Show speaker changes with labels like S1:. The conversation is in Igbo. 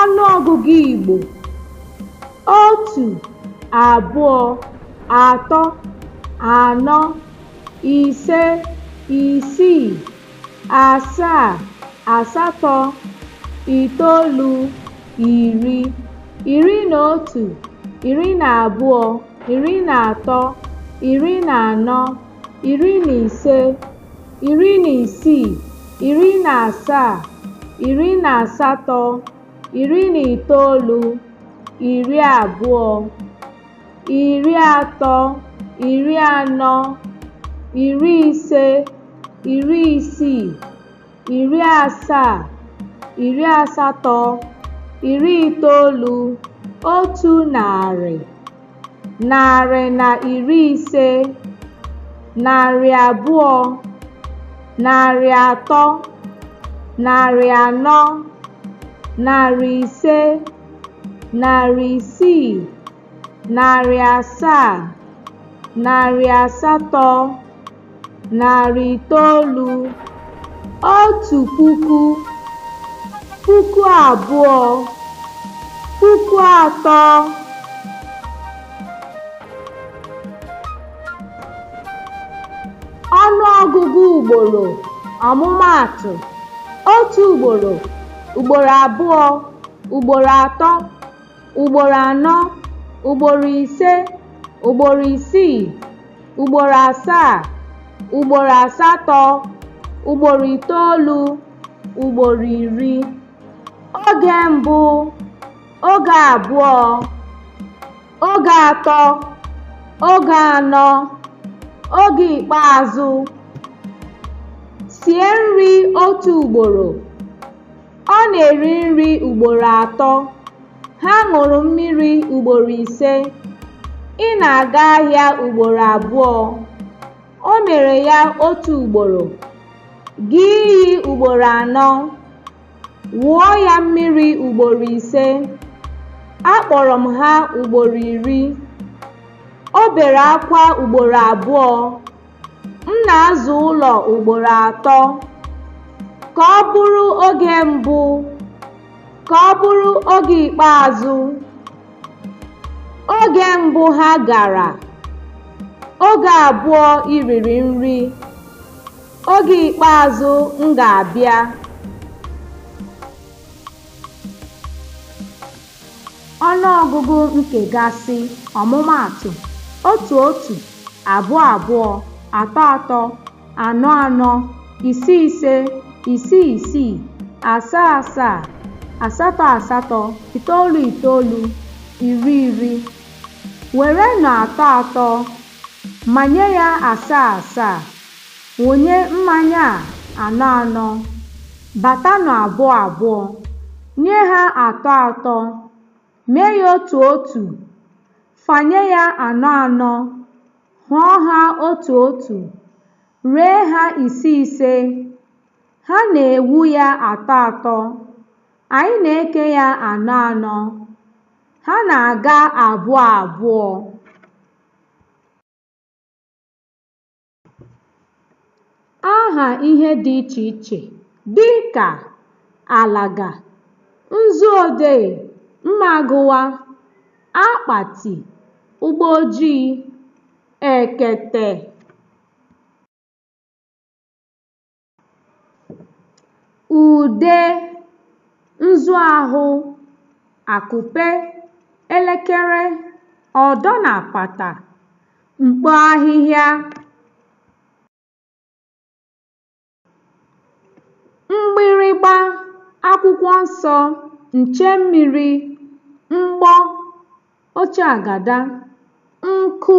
S1: Ọnụọgụgụ Igbo otu, abụọ, atọ, anọ, ise, isii, asaa, asatọ, itoolu, iri, iri na otu, iri na abụọ, iri na atọ, iri na anọ iri na ise iri na isii iri na asaa iri na asatọ iri na itoolu iri abụọ iri atọ iri anọ iri ise iri isii iri asaa iri asatọ iri itoolu otu narị narị na iri ise narị abụọ narị atọ narị anọ narị ise narị isii narị asaa narị asatọ narị itoolu otu puku puku abụọ puku atọ ọnụ ọgụgụ ugboro ọmụmaatụ otu ugboro ugboro abụọ ugboro atọ ugboro anọ ugboro ise ugboro isii ugboro asaa ugboro asatọ ugboro itoolu ugboro iri oge mbụ oge abụọ oge atọ oge anọ oge ikpeazụ sie nri otu ugboro Ọ na-eri nri ugboro atọ. Ha ṅụrụ mmiri ugboro ise. Ị na-aga ahịa ugboro abụọ. O mere ya otu ugboro. Gaa iyi ugboro anọ. Wụọ ya mmiri ugboro ise. Akpọrọ m ha ugboro iri. O bere akwa ugboro abụọ. M na-aza ụlọ ugboro atọ. Ka ọ bụrụ oge mbụ. Ka ọ bụrụ oge ikpeazụ. Oge mbụ ha gara. Oge abụọ i riri nri. Oge ikpeazụ m ga-abịa. Ọnụọgụgụ nkegasị, ọmụmaatụ, otu otu, abụọ abụọ, atọ atọ, anọ anọ, ise ise, isii isii, asaa asaa, asatọ asatọ, itoolu itoolu, iri iri. Werenụ atọ atọ manye ya asaa asaa. Wụnye mmanya a anọ anọ, batanụ abụọ abụọ, nye ha atọ atọ, mee ya otu otu, fanye ya anọ anọ, hụọ ha otu otu, ree ha ise ise. Ha na-ewu ya atọ atọ, anyị na-eke ya anọ anọ, ha na-aga abụọ abụọ. Aha ihe dị iche iche dị ka alaga, nzu odee, mma agụwa, akpati, ụgbọ ojii, ekete. ude nzu ahụ akupe elekere ọdọ na apata mkpo ahịhịa mgbịrịgba akwụkwọ nsọ nche mmiri mgbọ oche agada nkụ